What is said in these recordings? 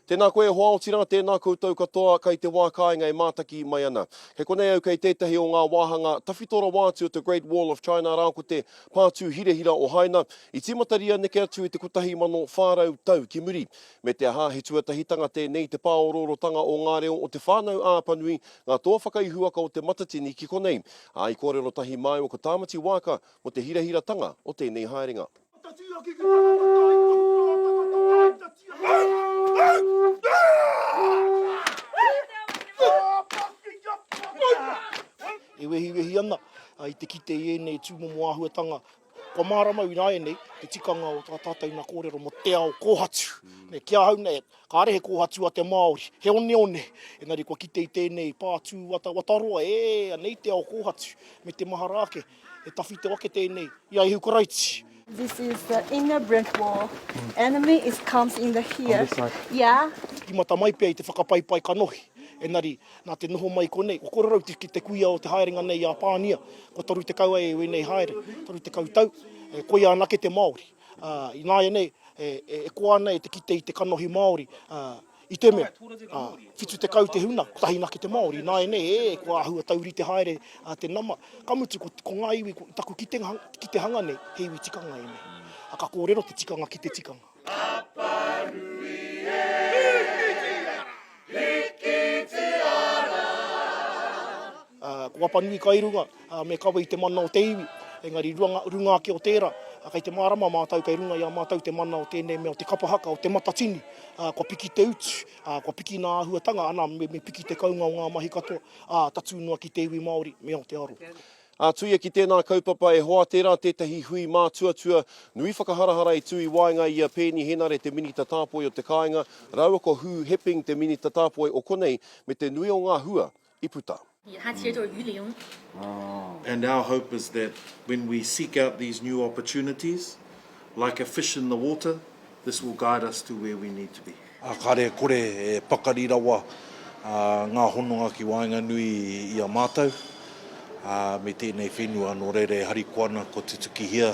Tēnā koe e hoa Otira, tēnā koutou katoa kai te wā kāinga e mātaki mai ana. Kei konei au kei tētahi o ngā wāhanga tawhito rawa atu o te Great Wall of China arā ko te Pātū Hirahira o Haina i tīmataria neke atu i te 1400 tau ki muri. Me te aha, he tuatahitanga tēnei te pāoroorotanga o ngā reo o Te Whānau a Apanui, ngā toa whakaihuwaka o Te Matatini ki konei. Ā, i kōrero tahi māua ko Tāmati Waaka mō te hirahiratanga o tēnei haerenga. E wehiwehi ana i te kite i ēnei tūmomo āhuatanga kua māramau ināianei te tikanga o tā tātou nā kōrero mō te ao kōhatu. Nei, ki ahau nei, kāre he kōhatu a te Māori, he oneone, engari kua kite i tēnei pā tū watawataroa, e, anei te ao kōhatu, me te mahara ake. E tawhito ake tēnei i a Ihu Karaiti. This is the inner brick wall. Enemy is comes in the here. On this side. Yeah. Tīmata mai pea i te whakapaipai kanohi. Engari, nā te noho mai i konei, kua kore rau ki te kuia o te haerenga nei i a Pānia. Kua 30 ai e wēnei haere, 30 tau, e koia ana ake te Māori. Ināianei, e koa ana e te kite i te kanohi Māori, I te mea, ā, whitu tekau te huna, kotahi nake te Māori, nāianei, ē, kua āhua taurite haere te nama, ka mutu, ko, ko ngā iwi, ko taku kitenga, kitehanga nei, he iwi tikanga ēnei. Ā, ka kōrero te tikanga ki te tikanga. Apanui e! Hikiti ara! Hikiti ara! Ko Apanui kai runga, me kawe i te mana o te iwi, engari runga ake o tērā, kei te mārama mātou kei runga i a mātou te mana o tēnei mea o te kapa haka, o te matatini, kua piki te utu, kua piki nā āhuatanga, ana, me piki te kounga o ngā mahi katoa, ā, tatū noa ki te iwi Māori me Aotearoa. Ātuia ki tēnā kaupapa e hoa tērā tētahi hui mātuatua nui whakaharahara i tū i waenga i a Peeni Henare te Minita Tāpoi o te Kāinga rāua ko Hugh Hepping te Minita Tāpoi o konei me te nui o ngā hua i puta. He aha te reo Uliong? And our hope is that when we seek out these new opportunities, like a fish in the water, this will guide us to where we need to be. Ā, kāre kore e pakari rawa ngā hononga ki waenganui i a mātou me tēnei whenua nō reira e harikoa ana kua tutukihia.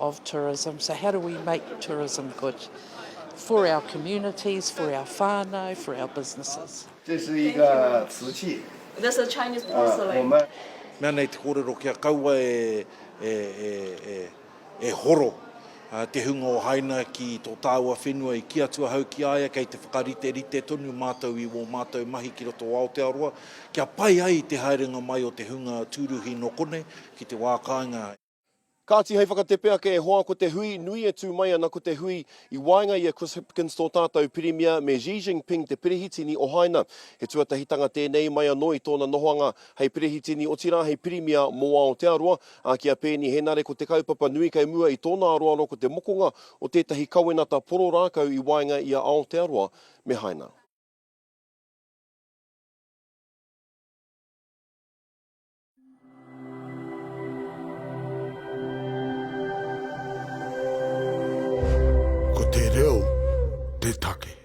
of tourism, so how do we make tourism good for our communities, for our whānau, for our businesses. This is uh, Tzu Chi. This is Chinese porcelain. Uh, Mea nei te kōrero kia kaua e, e, e, e, e horo uh, te hunga o Haina ki tō tāua whenua i ki atu ahau ki aia kei te whakarite rite tonu mātou i wō mātou mahi ki roto o Aotearoa kia pai ai te haerenga mai o te hunga tūruhi nō konei ki te wā kāinga. Kāti hei whakatepe ake e hoa ko te hui nui e tū mai ana ko te hui i waenga i a Chris Hipkins tō tātou Pirimia me Xi Jinping te Pirihitini o Haina. He tuatahitanga tēnei mai anō i tōna nohoanga hei Pirihitini otirā hei Pirimia mō Aotearoa, ā, ki a Peeni Henare ko te kaupapa nui kei mua i tōna aroaro ko te mokonga o tētahi kawenata poro rākau i waenga i a Aotearoa me Haina. Ko te reo te take.